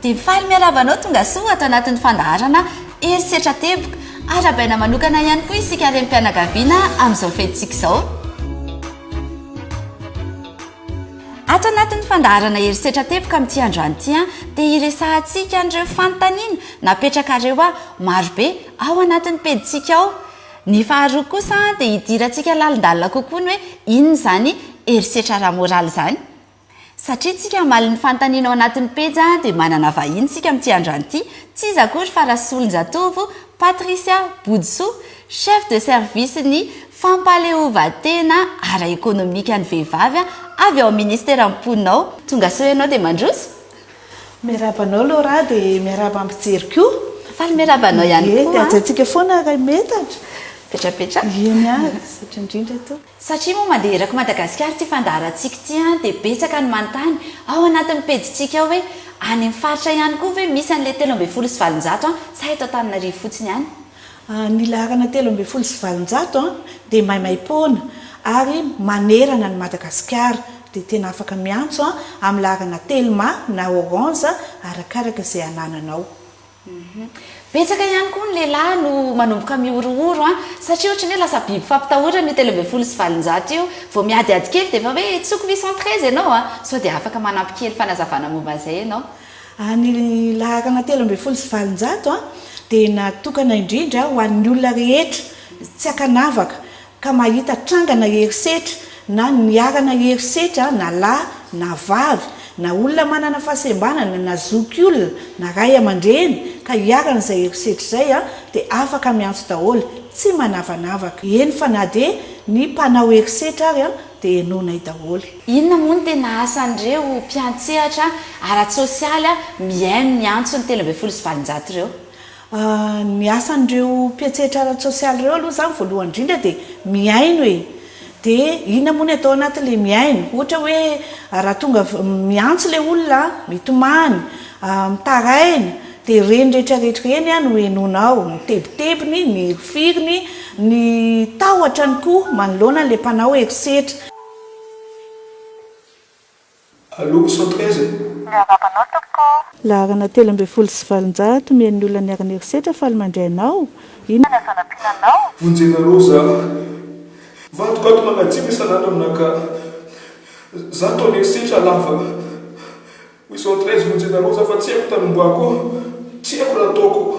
Dia faly miarahaba anao tongasoa ato anatin'ny fandaharana Herisetra Teboka. Arahabaina manokana ihany koa isika renim-pianakaviana amin'izao fetintsika izao. Ato anatin'ny fandaharana Herisetra Teboka amin'ity androany ity dia hiresahantsika an'ireo fanontaniana napetrakareo aho marobe ao anatin'ny pejintsika ao. Ny faharoa kosa dia hidirantsika lalindalina kokoa ny hoe inona izany herisetra ara-moraly izany. Satria tsika hamaly ny fanontaniana ao anatin'ny pejy a dia manana vahiny tsika amin'ity androany ity, tsy iza akory fa Rasolonjatovo Patricia Bodisoa, Chef de Service ny Fampahaleovantena ara-ekonomika ny vehivavy avy ao amin'ny Ministeran'ny Mponina ao. Tongasoa ianao dia mandroso. Miarahaba anao Laura dia miarahaba mpijery koa. Faly miarahaba anao ihany koa. Dia hajaintsika foana raha metatra. Petrapetra. Eny ary, misaotra indrindra tompoko. Satria moa mandeha eraky Madagasikara ity fandaharantsika ity dia betsaka ny manontany ao anatin'ny pejintsika ao hoe any amin'ny faritra ihany koa ve misy an'ilay telo ambin'ny folo sy valonjato sa eto Antananarivo fotsiny ihany? Ny laharana telo ambin'ny folo sy valonjato dia maimaim-poana ary manerana an'i Madagasikara dia tena afaka miantso amin'ny laharana telma na orange arakaraka izay anananao. Betsaka ihany koa ny lehilahy no manomboka mihorohoro an! satria ohatran'ny hoe lasa biby fampitahorana io telo ambin'ny folo sy valonjato io, vao miadihady kely dia efa hoe tsy ko huit-cent treize ianao an! sao dia afaka manampy kely fanazavana momba an'izay ianao. Ny laharana telo ambin'ny folo sy valonjato dia natokana indrindra ho an'ny olona rehetra, tsy ankanavaka, ka mahita tranga na herisetra na niharana herisetra na lahy na vavy na olona manana fahasembanana na zokiolona na ray aman-dreny ka hiharana izay herisetra izay dia afaka miantso daholo tsy manavanavaka, eny fa na dia ny mpanao herisetra ary dia henoinay daholo. Inona moa no tena asan'ireo mpiantsehatra ara-tsosialy mihaino ny antson'ny telo ambin'ny folo sy valonjato ireo? Ny asan'ireo mpiantsetra ara-tsosialy ireo aloha izany voalohany indrindra dia mihaino e! Dia inona moa ny atao anatin'ilay mihaino? Ohatra hoe raha tonga miantso ilay olona, mitomany, mitaraina dia ireny rehetrarehetra ireny no henoina ao, ny tebitebiny, ny hirifiriny, ny tahotrany koa manoloana an'ilay mpanao herisetra. Aloako sao taiza e. Ny hanapanao tompoko. Laharana telo ambin'ny folo sy valonjato omeny ny olona niara niherisetra faly mandray anao, inona. Ny azo anampiana anao. Vonjenareo za. Vadiko ato manajiana isan'andro aminà ka. Za toa niherisetra lava. Hoy sao taiza vonjenareo za fa tsy haiko tanombohako. Tsy haiko raha ataoko.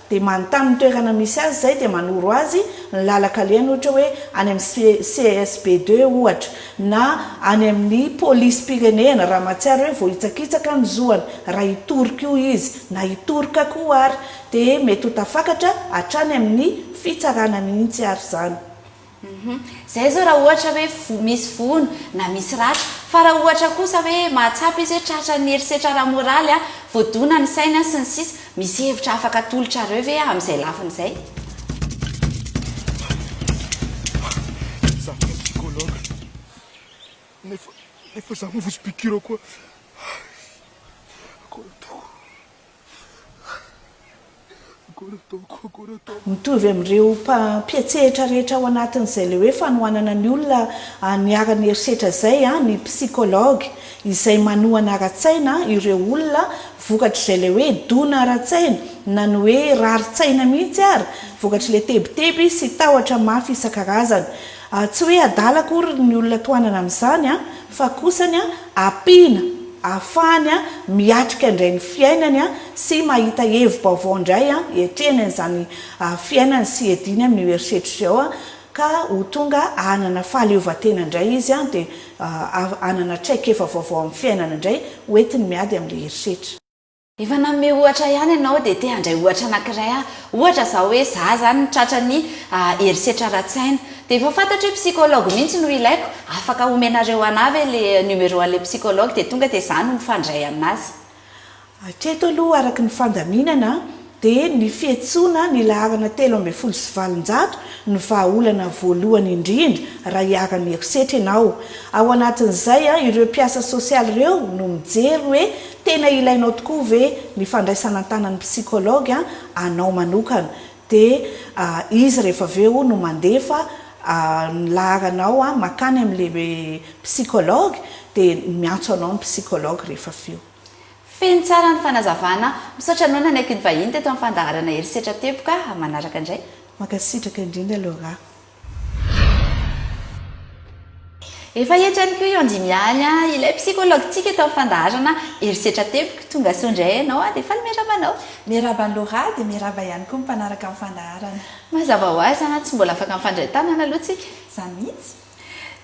dia manontany ny toerana misy azy izay dia manoro azy ny lalan-kalehany ohatra hoe any amin'ny CSB deux ohatra na any amin'ny polisim-pirenena raha mahatsiaro hoe voahitsakitsaka ny zoany raha hitory koa izy na hitoroka koa ary dia mety ho tafakatra hatrany amin'ny fitsarana mihitsy ary izany. Humm. Zay zao raha ohatra hoe voa misy vono na misy ratra. Fa raha ohatra kosa hoe mahatsapa izy hoe tratran'ny herisetra ara-moraly, voadona ny sainy sy ny sisa, misy hevitra afaka atolotrareo ve amin'izay lafiny izay? Za koa psychologue nefa nefa za mivozo piqure koa. Akory ataoko. Mitovy amin'ireo mpampiantsehatra rehetra ao anatin'izay ilay hoe fanohanana ny olona haniharany herisetra izay ny psychologue izay manohana ara-tsaina ireo olona vokatr'izay ilay hoe dona ara-tsaina na ny hoe rarin-tsaina mihitsy ary vokatr'ilay tebiteby sy tahotra mafy isan-karazany Tsy hoe adala akory ny olona tohanana amin'izany fa kosany ampiana ahafahany miatrika indray ny fiainany sy mahita hevi-baovao indray hiatrehany an'izany fiainany sy hiadiany amin'io herisetra izao ka ho tonga hanana fahaleovantena indray izy dia hanana traikefa vaovao amin'ny fiainana indray hoentiny miady amin'ilay herisetra. Efa nanome ohatra ihany ianao dia te handray ohatra anankiray aho. Ohatra izao hoe za izany nitratra ny herisetra ara-tsaina. Dia efa fantatro hoe psychologue mihitsy no ilaiko. Afaka omenareo anah ve le numéro an'ilay psychologue dia tonga dia za no mifandray amin'azy. Hatreto aloha araka ny fandaminana dia ny fihetsoana ny laharana telo ambin'ny folo sy valonjato no vahaolana voalohany indrindra raha iharan'ny herisetra ianao. Ao anatin'izay ireo mpiasa sosialy ireo no mijery hoe Tena ilainao tokoa ve ny fandraisana an-tanan'ny psychologue anao manokana? Dia izy rehefa avy eo no mandefa ny laharanao makany amin'ilay psychologue, dia miantso anao ny psychologue rehefa avy eo. Feno tsara ny fanazavana. Misaotra anao nanaiky ny vahiny teto amin'ny fandaharana Herisetra Teboka. Manaraka indray. Mankasitraka indrindra Laura. Efa hetrany koa io Andimialy a! Ilay psychologue tsika tao fandaharana herisetra teboka, tonga soa indray ianao a! Dia faly miarahaba anao. Miarahaba an'i Laura dia miarahaba ihany koa ny mpanaraka ny fandaharana. Mazava ho azy a! Tsy mbola afaka mifandray tanana aloha tsika. Izany mihitsy.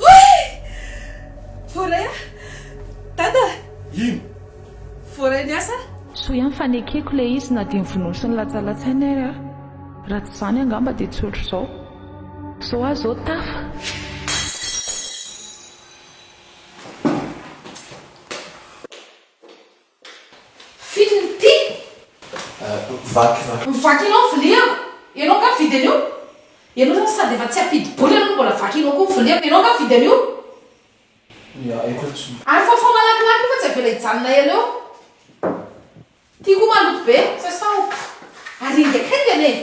Voay! Voaray aho! Dada! Ino? Voaray ny asa? Soa ihany fa nekeko ilay izy na dia nivonoa sy nilatsalatsaina ary aho. Raha tsy izany angamba dia tsy ohatr'izao. Izao aho izao tafa! Fito ny tiko. Vaky va? Vaky anao viliako. Ianao nga mividy an'io? Ianao zany sady efa tsy ampidi-bola anao no mbola vaky anao koa ny viliako. Ianao nga mividy an'io? Ia, aiko aloha tsy. Ary fafao malakilaky io fa tsy avela hijanona ela eo. Ty koa maloto be, sasao. Ary engakenga anie.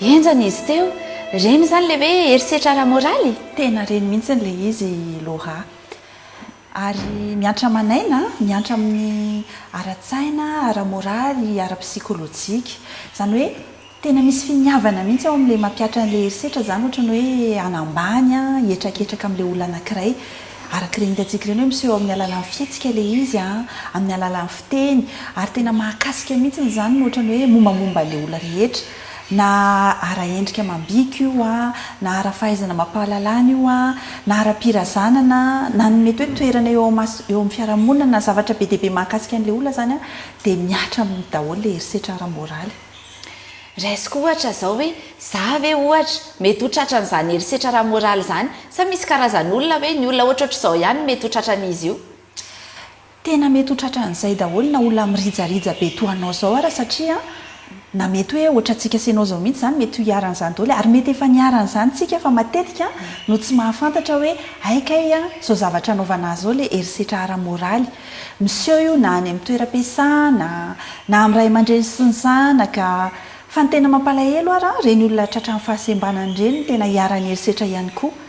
Henjana izy teo. Reny izany ilay hoe herisetra ara-moraly? Tena reny mihitsy ilay izy i Laura. Ary miantra aman'aina, miantra amin'ny ara-tsaina, ara-moraly, ara-psikolojika. Izany hoe tena misy finiavana mihitsy ao amin'ilay mampiatra an'ilay herisetra izany, ohatra ny hoe hanambany, hihetraketraka amin'ilay olona anankiray. Araka ireny hitantsika ireny hoe miseho amin'ny alalan'ny fihetsika ilay izy, amin'ny alalan'ny fiteny. Ary tena mahakasika mihitsy izany, ohatra ny hoe mombamomba an'ilay olona rehetra. Na ara-endrika amam-bika io, na ara-fahaizana amam-pahalalana io, na ara-pirazanana, na ny mety hoe toerana eo eo amin'ny fiarahamonina, na zavatra be dia be mahakasika an'ilay olona izany, dia mihatra aminy daholo ilay herisetra ara-moraly. Raisiko ohatra izao hoe, za ve ohatra mety ho tratran'izany herisetra ara-moraly izany? Sa misy karazan'olona hoe ny olona ohatrohatr'izao ihany no mety ho tratran'izy io? Tena mety ho tratran'izay daholo na olona mirijarija be toa anao zao ara satria na mety hoe ohatrantsika sy enao zao mihitsy zany mety ho iharan'izany daholo e ary mety efa niharan'izany tsika fa matetika no tsy mahafantatra hoe hay kay a zao zavatra anaovana ahy zao le herisetra ara-moraly miseho io na any am toeram-piasana na am ray aman-dreny sy ny zanaka fa ny tena mampalahelo ara reny olona tratran'ny fahasembanana reny no tena iharan'ny herisetra ihany koa.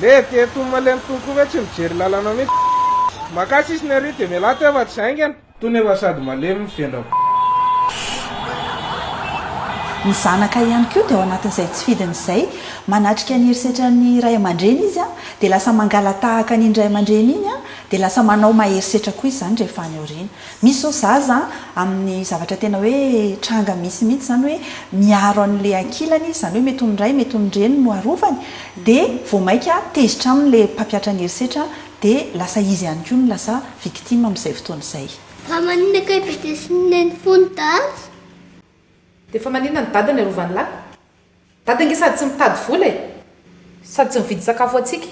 Lé ety ety ho malemy tony koa ve tsy mijery lalana mihitsy Makà sisiny ary dia mialà teo fa tsy haingana. Tony efa sady malemy ny vendrako. Ny zanaka ihany koa dia ao anatin'izay tsy fidiny izay. Manatrika ny herisetra ny ray aman-dreny izy dia lasa mangala-tahaka an'iny ray aman-dreny iny dia lasa manao maherisetra koa izany rehefa any aoriana. Misy izao zaza amin'ny zavatra tena hoe tranga misy mihitsy izany hoe miaro an'ilay ankilany izy, izany hoe mety ho ny ray, mety ho ny reny no arovany, dia vao maika tezitra aminy ilay mpampiatra ny herisetra dia lasa izy ihany koa no lasa victime amin'izay fotoana izay. Fa maninona kay be dia sy ny neny fony daty? Dia fa maninona ny dada ny arovany lahy? Dada nge sady tsy mitady vola e! Sady tsy mividy sakafo ho antsika!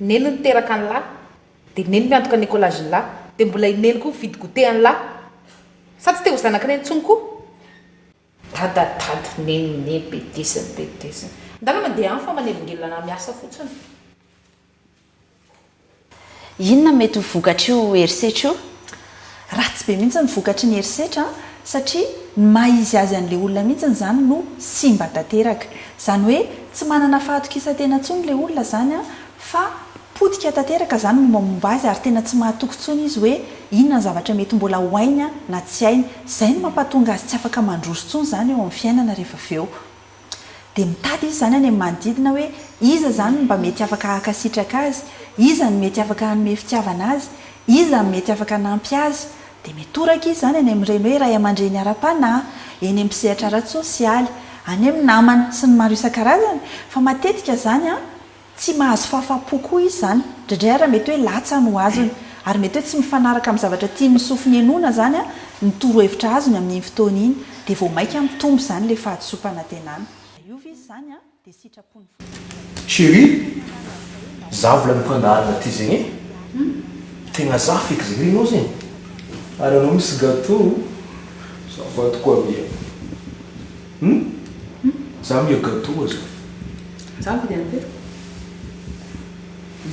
Neny niteraka an'lah! Dia neny miantoka ny écolagen'lah! Dia mbola i neny koa mividy goûter an'lah! Sa tsy te ho zanak'i neny intsony koa? Dada dada neny neny betezina betezina. Ndana mandeha any fa manelingelina na miasa fotsiny. Inona no mety ho vokatr'io herisetra io? Ratsy be mihitsy ny vokatry ny herisetra satria ny maha izy azy an'ilay olona mihitsy izany no simba tanteraka. Izany hoe tsy manana fahatokisan-tena intsony ilay olona izany fa potika tanteraka izany mombamomba azy ary tena tsy mahatoky intsony izy hoe inona ny zavatra mety mbola ho hainy na tsy hainy. Izay no mampahatonga azy tsy afaka mandroso intsony izany eo amin'ny fiainana rehefa avy eo. Dia mitady izy izany any amin'ny manodidina hoe iza izany no mba mety afaka hankasitraka azy, iza no mety afaka hanome fitiavana azy, iza no mety afaka hanampy azy. Dia mitoraka izy izany any amin'ireny hoe ray aman-dreny ara-panahy, eny amin'ny mpisehatra ara-tsosialy, any amin'ny namana sy ny maro isan-karazany. Fa matetika izany an! Tsy mahazo fahafaham-po koa izy izany. Indraindray ary mety hoe latsa no azony. Ary mety hoe tsy mifanaraka amin'ny zavatra tian'ny sofiny henoina izany ny torohevitra azony amin'iny fotoana iny. Dia vao mainka mitombo izany ilay fahadisoam-panantenana. Raha hiova izy izany dia sitrapon'ny Fanahy Masina. Chérie, za vola amim-pandaharana ty zegny e! Tegna za feky zegny, renao zegny? Ary anao misy gâteau? Za voadiko aby e! Hum za miha gâteau za. Za mividy any be.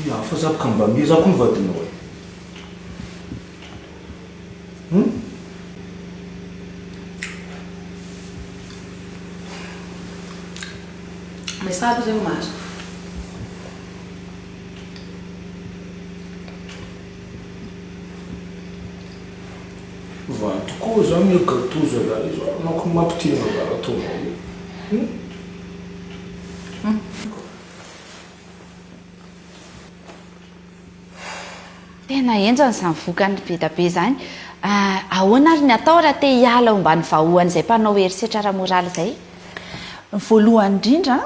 Miha hafa za ka mba miha za ko ny vadinao e. Hum. Mais ça aloha zay omaly. Valy tokoa zao ny gateau zalahy zao anao ko mampitia ny raha ataonao io hum. Tena henjana izany vokany bedabe izany. Ah, ahoana ary ny atao raha te hiala omban'ny vahoan'izay mpanao herisetra ara-moraly izay? Ny voalohany indrindra,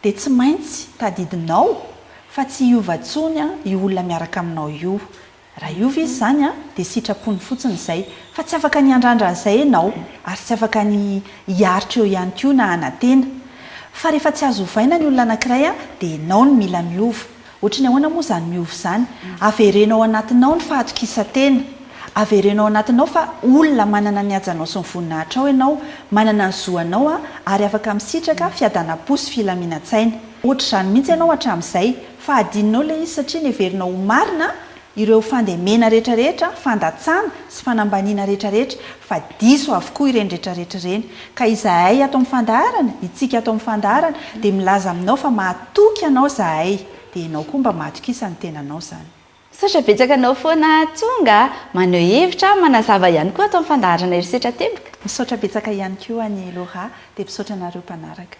Dia tsy maintsy tadidinao fa tsy hiova tsony io olona miaraka aminao io. Raha hiova izy izany dia sitrapony fotsiny izay. Fa tsy afaka ny handrandra an'izay ianao, ary tsy afaka ny hiaritra eo ihany koa na hanantena. Fa rehefa tsy azo ovaina ny olona anankiray dia ianao no mila miova. Ohatry ny ahoana moa izany miova izany? Avereno ao anatinao ny fahatokisan-tena. Avereno ao anatinao fa olona manana ny hajanao sy ny voninahitrao ianao, manana ny zo anao ary afaka misitraka fiadanam-po sy filaminantsaina. Ohatr'izany mihitsy ianao hatramin'izay fa hadinonao ilay izy satria neverinao ho marina ireo fandemena retraretra, fandatsana sy fanambaniana retraretra fa diso avokoa ireny retraretra ireny ka izahay ato amin'ny fandaharana, itsika ato amin'ny fandaharana dia milaza aminao fa mahatoky anao zahay dia ianao koa mba mahatokisa ny tenanao izany. Misaotra betsaka anao foana tonga maneho hevitra, manazava ihany koa ato amin'ny fandaharana herisetra teboka. Misaotra betsaka ihany koa an'i Laura dia misaotra anareo mpanaraka.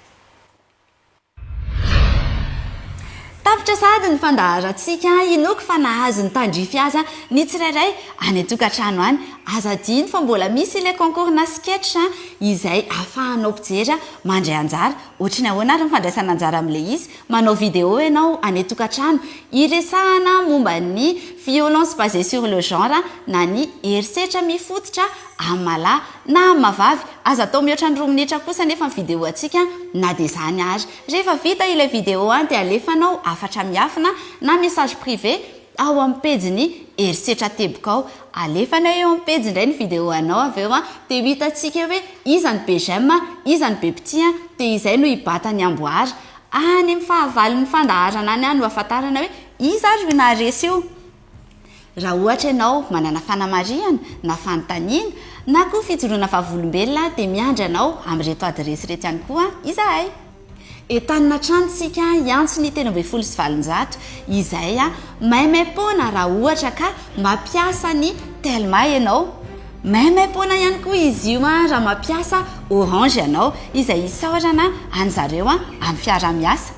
Tapitra sahady ny fandaharantsika, inoako fa nahazo ny tandrify aza ny tsirairay any an-tokantrano any. Aza adino fa mbola misy ilay concours-na sketch izay ahafahanao mpijery mandray anjara. Ohatry ny ahoana ary ny fandraisana anjara amin'ilay izy? Manao vidéo ianao any an-tokantrano hiresahana momba ny violence basée sur le genre na ny herisetra mifototra Amalahy na amavavy, aza atao mihoatra ny roa minitra kosa anefa ny video antsika na dia izany ary. Rehefa vita ilay video dia alefanao hafatra miafina na message privé ao amin'ny pejin'ny herisetra teboka ao. Alefanay eo amin'ny pejy indray ny video anao avy eo dia ho hitantsika eo hoe iza no be j'aime, iza no be mpitia dia izay no hibata ny amboara. Any amin'ny fahavalon'ny fandaharana any no ahafantarana hoe iza ary io naharesy io. Raha ohatra ianao manana fanamarihana na fanontaniana na koa fijoroana vavolombelona dia miandry anao amin'ireto adiresy ireto ihany koa izahay. Entanina hatrany isika hiantso ny telo ambin'ny folo sy valonjato izay maimaimpoana raha ohatra ka mampiasa ny Telma ianao. Maimaimpoana ihany koa izy io raha mampiasa Orange ianao izay isaorana an'izareo amin'ny fiaraha-miasa.